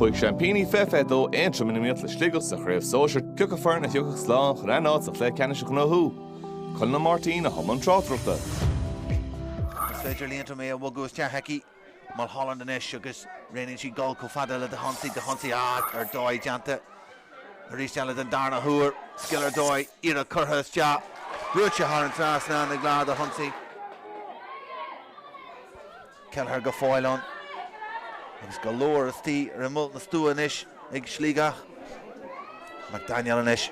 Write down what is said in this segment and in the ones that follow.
Chuaigh seaimpíní fiche fiche dó Aontroim in iomaíocht le Sligeach sa chraobh sóisear, Cé acu foireann a thiocfadh slán chun a n-áit sa chluiche ceannais a ghnóthú, Conall Ó Máirtín a bhí i mbun tráchtaireachta. Is féidir le Aontroim é a bhogadh isteach aici, Mulholland anois agus rianaíonn sí dul chomh fada le Dahunsi, Dahunsi ach ar dóigh déanta arís eile den darna huair, scil ar dóigh, iarracht curtha isteach, brúite thar an trasnán ag Lara Dahunsi. Kelleher go fóill ann agus go leor istigh ar imeall na stua anois ag Sligeach. McDaniel anois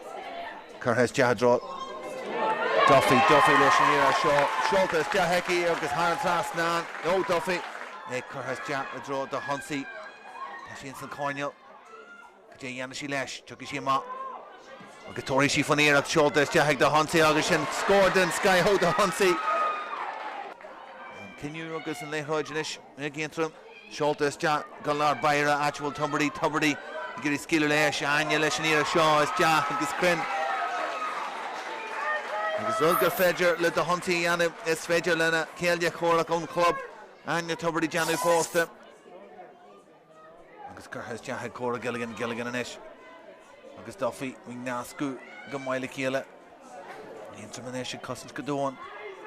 curtha isteach i dtreo Duffy, Duffy leis an iarracht seo. Seolta isteach aici agus thar an trasnán ó Duffy é curtha isteach i dtreo Dahunsi. Tá sí ins an choirnéal. Cad é a dhéanfaidh sí leis? Tiocfaidh sí amach agus tabharfaidh sí faoin iarracht seolta isteach ag Dahunsi agus sin scór den scoth ó Dahunsi. An cinneadh agus an liathróid anois ag Aontroim. Seolta isteach go lár báire áit a bhfuil Tubridy. Tubridy ag iarraidh scaoileadh leis. Áine leis an iarracht seo isteach agus cruinn. Agus rud gur féidir le Dahunsi a dhéanamh, is féidir lena céile comhraic ón chlub, Áine Tubridy, déanamh fosta. Agus curtha isteach ag Cora Gilligan, Gilligan anois agus Duffy ag nascadh go maith le chéile. Aontroim anois ag cosaint go domhain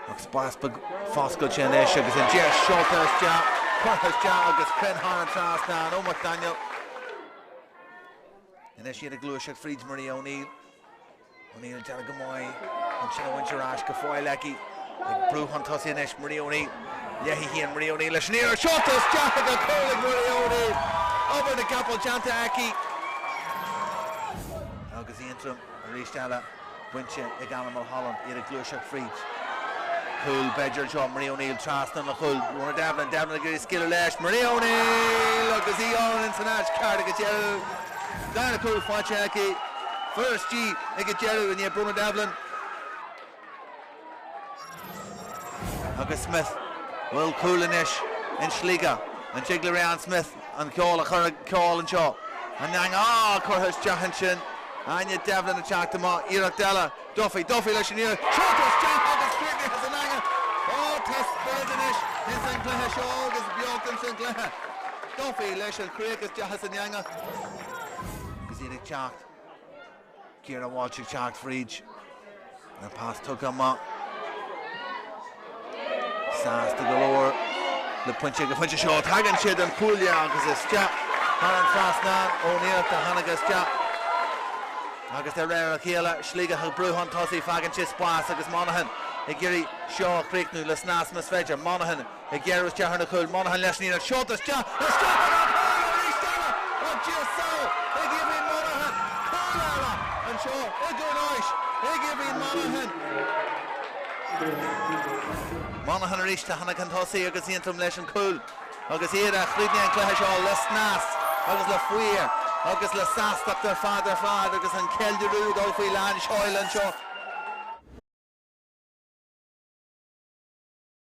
agus spás beag foscailte anois agus an deis seolta isteach, curtha isteach agus cruinn thar an trasnán ó McDaniel. Anois iad ag gluaiseacht fríd Maria O'Neill. O'Neill ag déanamh go maith chun sin a bhaint ar ais, go fóill aici, ag brú chun tosaigh anois, Maria O'Neill, léi féin, Maria O'Neill leis an iarracht, seolta isteach ag an chúl ag Maria O'Neill, obair na gcapall déanta aici. Agus Aontroim arís eile bainte ag Ana Mulholland, iad ag gluaiseacht fríd. Cúl b'fhéidir anseo Maria O'Neill trasna an chúl, Bronagh Devlin, Devlin ag iarraidh scaoileadh leis, Maria O'Neill agus í ann san áit ceart agus Darna cúl faighte aici, fuair sí í ag an deireadh i ndiaidh Bronagh Devlin agus Smith an bhfuil cúl anois in Sligeach. An dtig le Rianne Smith an ceol a chur ag ceol anseo? An eangach, curtha isteach ansin. Áine Devlin ag teacht amach, iarracht eile. Duffy, Duffy leis an iarracht, seolta isteach agus críochnaithe san eangaigh. Ó, tá spiorad anois ins an chluiche seo agus beocht ins an chluiche. Duffy leis an chríoch isteach san eangaigh. Agus iad ag teacht, Ciara Walsh ag teacht fríd, an pas tugtha amach. Sásta go leor le pointe ag an phointe seo. Tagann sí den chuaille agus isteach thar an trasnán. Ó Néill a tháinig isteach agus de réir a chéile, Sligeach ag brú chun tosaigh. Faigheann sí spás agus Monaghan ag iarraidh seo a chríochnú le snas más féidir. Monaghan ag géarú isteach ar na cúil. Monaghan leis an iarracht. Seolta isteach. Arís eile, ó Dhia seo, ag Aoibhín Monaghan. Cúl eile anseo i gCluain Eois ag Aoibhín Monaghan. Monaghan arís, a tháinig chun tosaigh agus Aontroim leis an chúl agus iad a chríochnaigh an cluiche seo le snas agus le faobhar agus le sástacht ar fad ar fad agus an ceiliúradh ag dul faoi lán seoil anseo.